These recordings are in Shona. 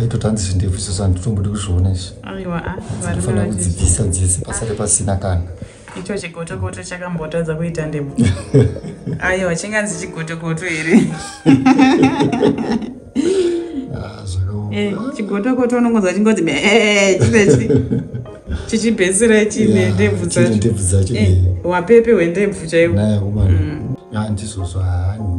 aitoti hanzi zvindefu izvozvo handitombodi kuzviona izvi ndinofanira kudzibvisa dzese pasare pasina kana icho chigotokoto chakambotadza kuita ndemo aiwa chinganzi chigotokoto here ah, eh, chigotokoto unongonzwa chingonzi eh, chizechi chichibhesera chine ndebvu dzachondebvu dzacho eh, wapepe hwendebvu chaiwo mm. ah, ndizvozvo haani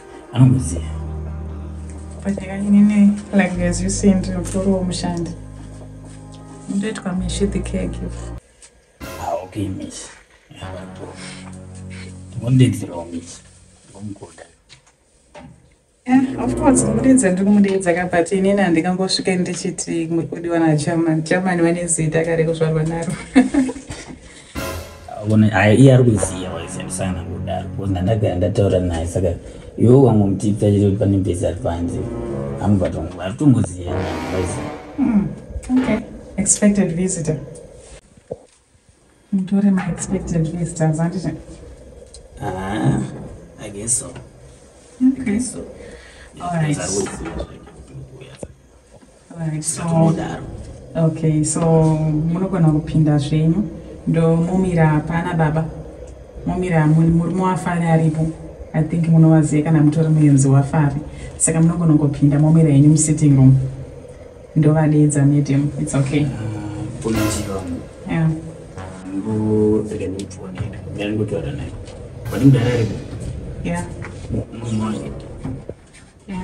anongoziva panyakainini like as you say ndiri mukuru womushandi ndoitwa mishi the caregiver ah, okay mishi ndingondidzirawo mishi ndomukuda of course kumudidza ndiri kumudidza ka but inini handikangosvike ndichiti mukudi wana chaman chaman vane zita kare kuzvarwa naro iye ari kuziva waishandisa kana kudaro bcause ndandagara ndataura naye saka iwe wangomutipsa chete kuti pane mbezi ari panze amubatongo ari kutongoziva hmm, okay expected visitor mutore ma expected visitors anditi ah i guess so okay so all right Right, so, Tumodaro. okay so munogona kupinda zvenyu ndomomira pana baba momira mu- murume wafari aripo i think munovaziva kana mutori muenzi wafari saka munogona kupinda momira yenyu musitting room ndovadeedza madam its okay Kuna njiva wangu. yeah. Ngo rega ndipfuwa nenda. Ndari kutaura naye. Wani mdara aripo. yeah. Mumwe wangu. yeah.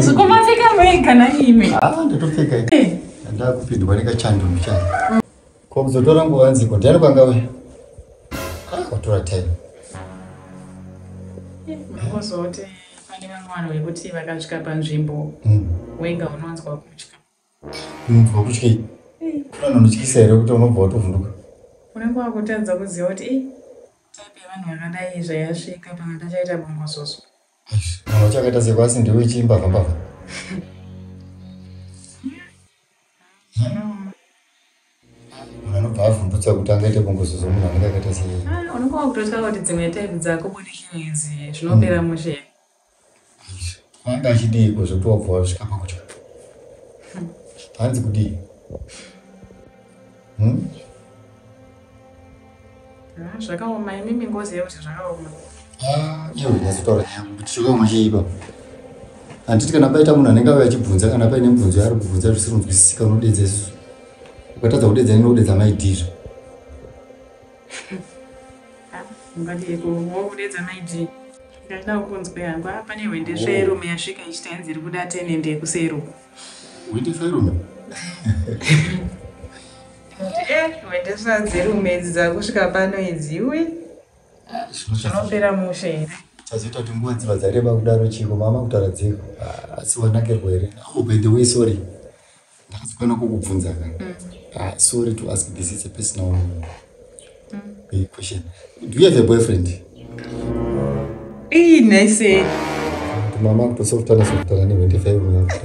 zvikomapfeka mega naime ndatopfeka ndakupindwa nekachando muchai ko kuzotora nguva nziko ndiani kwanga we watora time kuzoti pane vamwe vanhu vekuti vakasvika panzvimbo wenga unonzwa kutya unonzwa kutya iyi anotyisa here kuti unobva watovhunduka unenge wakutadza kuziva kuti i type yevanhu vakadai zvayasvika pamwe tachaita bongozozo mwana uchakaita seko asi ndiwe ichiimbavha mbavha anobva avhundutsa kuti angaite bongozozo munhu anenge akaita sei ah, unenge wakutotya kuti dzimwe type dzako budikidzi zvinopera mm. mushe Anga achidii kuzoti wabva wasvika pakutya? Hanzi kudii? Hmm? Ah, zvakaoma imimi ngozi yekuti zvakaoma. Ah, iyo ndazitaura nyaya kuti zvakaoma chii ipapo? Handiti kana paita munhu anenge auya achibvunza kana paine mibvunzo yaari kubvunza zvisiri kunzwisisika unodedza isusu. Ukatadza kudedza ino kudedza maidizvo. Ungadii kuoudedza maidii? Ndaida kukunzwa yangu apa ah, nehwende sverume yasvika ichiti hanzi iri kuda tenende yekusero. Hwende sverume? Eh, hwende svadzirume idzi dzakusvika pano idzi uye ah, zvinopera mushe here? chazoita kuti nguva dziva dzareba kudaro chiko mama kutaura dziko ah, asi wanakirwa here oh, by the way sorry ndakazokwana kukubvunza ka mm. ah, sorry to ask this is a personal mm. Eh, question do you have a boyfriend ii nice mama kutosokutana sokutana nevendefaiaiwaka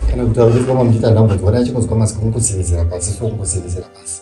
kana kuti auzikama muchiita ndambodzwa naye chikunzwa masiku mukusirizira pasi so mukusirizira pasi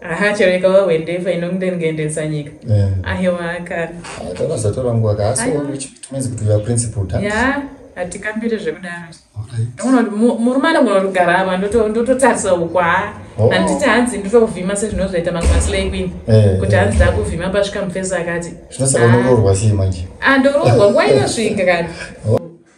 aha chero ikava hwendefa inondengendesa nyika eh. ahiwa kani eh, takazotora nguva kaasitumenzi kuti uya principal ta ya hatikambire zvekudaro ndoona kuti murume anogona kutogara apa ndototarisa ukwaa oh. handiti hanzi nditokuvhima sezvinozoita mamwe maslay queen eh, kuti hanzi ndakuvhima pasvika mufesi akati zvinosaka unoroorwa sei manje andoroorwa ah, nguva inosvika kani oh.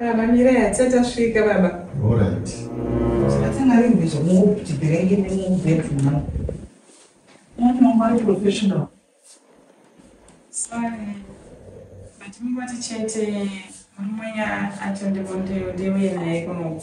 Baba mirai hatisati tasvika baba. Alright. Satana ari ngezvo mukutibirenge nemubedroom mavo. Munhu ari professional. Sorry. But mungoti chete murume ati ndivondeyo ndiuye naye kunoku.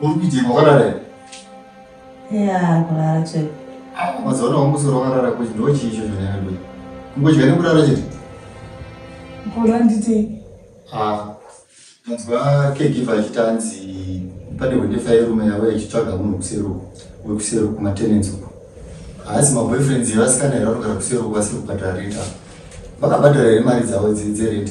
Uri kuitika wakarara here? Ya, kurara chete. Ah, mazuva ano wamusoro wakarara kuti ndiwo chii icho zvanyanya ndoyi? Kungodya nekurara chete? Mkuru anditi. Ah, ndanzwa caregiver achiti anzi pane hwendefa yerume yavo yachitsvaga munhu kuseru wekuseru kumatenants uko. Haasi maboyfriends yevasikana here vanogara kuseru vasiri kubhadhara rent apa. Vakabhadhara here mari dzavo dze- dzerent?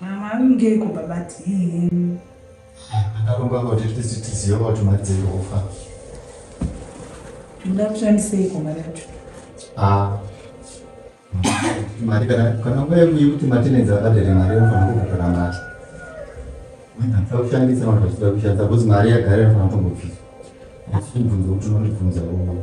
Mama angeiko baba tii. Akaromba kuti tisi tiziva kuti mari dziri kufa. Nda kushandiseiko mari yacho? Ah. Mari kana kana wewe kuti matenenzi akadere mari unofanira kubhadhara mari. Wena kushandisa vanhu vachida kushandisa because mari yagara inofanira kungobviswa. Asi bvunzo kuti unondibvunza uno.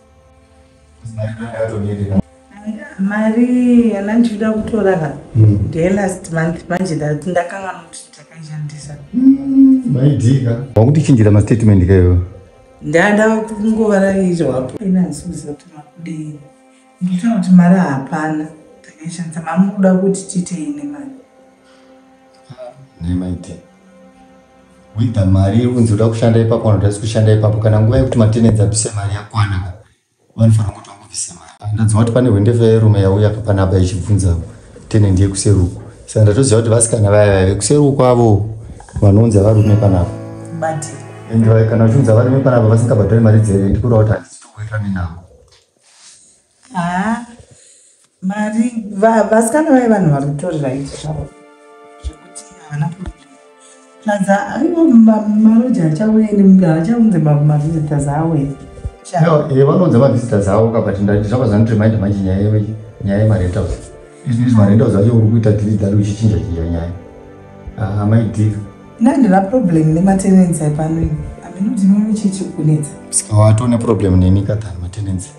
mari yana ndichida kutora ka hmm. ndelast month manje ndati ndakanga muti takaishandisa hmm, maidika wakutichinjira mastatement kayo ndada kungovaraizvapo inanzviziva kuti makudei nditona kuti mari hapana takaishandisa mamukuda kuti tiitei nemari nemaitei wida mari unzi uda kushanda ipapo kana kuti asi kushanda ipapo kana nguva yekuti matenenzi abvise mari yakwana ka vanofanira kuti vangobvise mari ah, ndanzwa kuti pane hwendefa yerume yauya ka pane apa ichibvunza tenendi yekuseruko saka ndatoziva kuti vasikana vaya vaya vekuseruko avo vanounza varume panapa ende kana vachiunza varume panapa vasingabhadhari mari dzere ndikuda kuti handisitokuitanenavo haa mari vasikana vaye vanhu vari kutorera iti zvavo zvekuti havana plaza aiwa maroja achauya neachaunze mavisitors awo e vanounza mavisitors awo kabati ndati zvava zvandiremind manje nyaya nyaya yemarentals izvi izvi marentals acho uri kuita dili dali uchichinja chinja nyaya ah, amai dil ndandira problem nematenensi aipano ini ameno ndinomuchichi kunetsa saka watone problem neni katani matenensi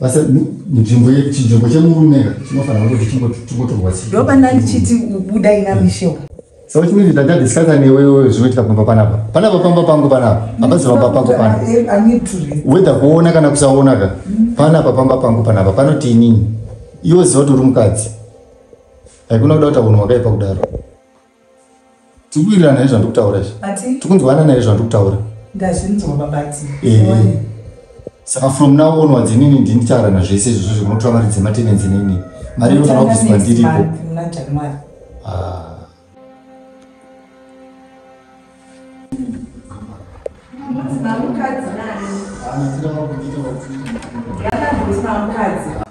basa nzvimbo chinzvimbo chemurume ka chinofanira kuti chingotorwa sei ndoba ndandichiti ubuda ina mishewa saka chimweni ndandadiscasa newewe zvinoitika pamba panapa panapa pamba pangu panapa hapazi pamba pangu pana whether kuona kana kusaona ka panapa pamba pangu panapa panoti inini iwe ziva kuti uri mukadzi haikuna kuda kutaunwa wakaipa kudaro tikuwirirana here zvandiri kutaura izvi tikunzwanana here zvandiri kutaura ndazvinzwa babati saka from now onwards inini ndini ndichaarana zvese izvozvo zvinotora mari dzematenenzi nini mari inofanira kuziva ndiripo Thank ah. you.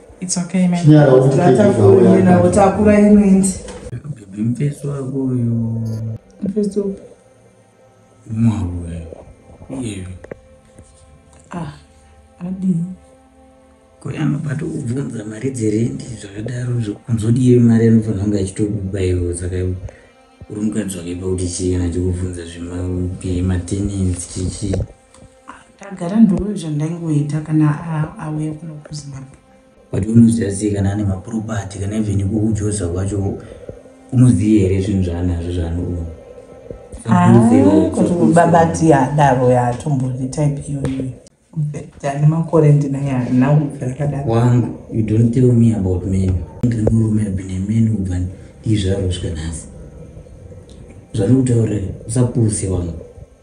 It's okay, man. Chinyara uti kidhibhawo Takura inoindi. Baby mfesi wako uyo. Mfesi wako. Mwavu wewe. Yewe. Ah, adi. Koyano pato kubvunza mari dzerendi zvakadaro zvokunzodii mari anofanira kunge achitobaiwa saka uri mukadzi wakaipa kuti chii kana chikubvunza zvematenensi chichii Tagara ndoo zvandaingoita kana auya kuno kuZimbabwe. But unoziva sei kana ane maproperty kana even iko kuJoza kwacho unoziva here zvinhu zvaanazvo zvaanoona? Kuti baba tiya daro yatombori type iyoyo. Tani makore ndinaya now zvakadaro. Wangu, you don't tell me about men. Ndiri murume abine men ubva ndizvaroswe nhasi. Zvanokutaurira usapuse wangu.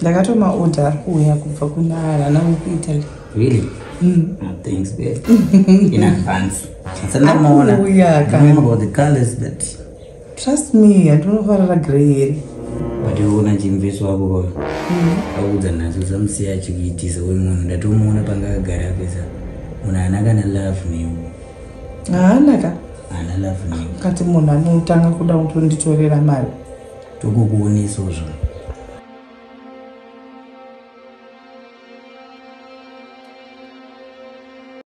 ndakatoma order ari kuuya kubva kuna vana vekuitaly really mm. oh, thanks babe in advance sandamuona about the colors that trust me handinofarira grey here but uona chimveso wako kwa mm. akuudza nhasi usamusiya achikuitisa we munhu ndatomuona panga agara apesa munhu haana kana love new haana ka haana love new kati munhu anotanga kuda kutonditorera mari tokukuonesawo zvona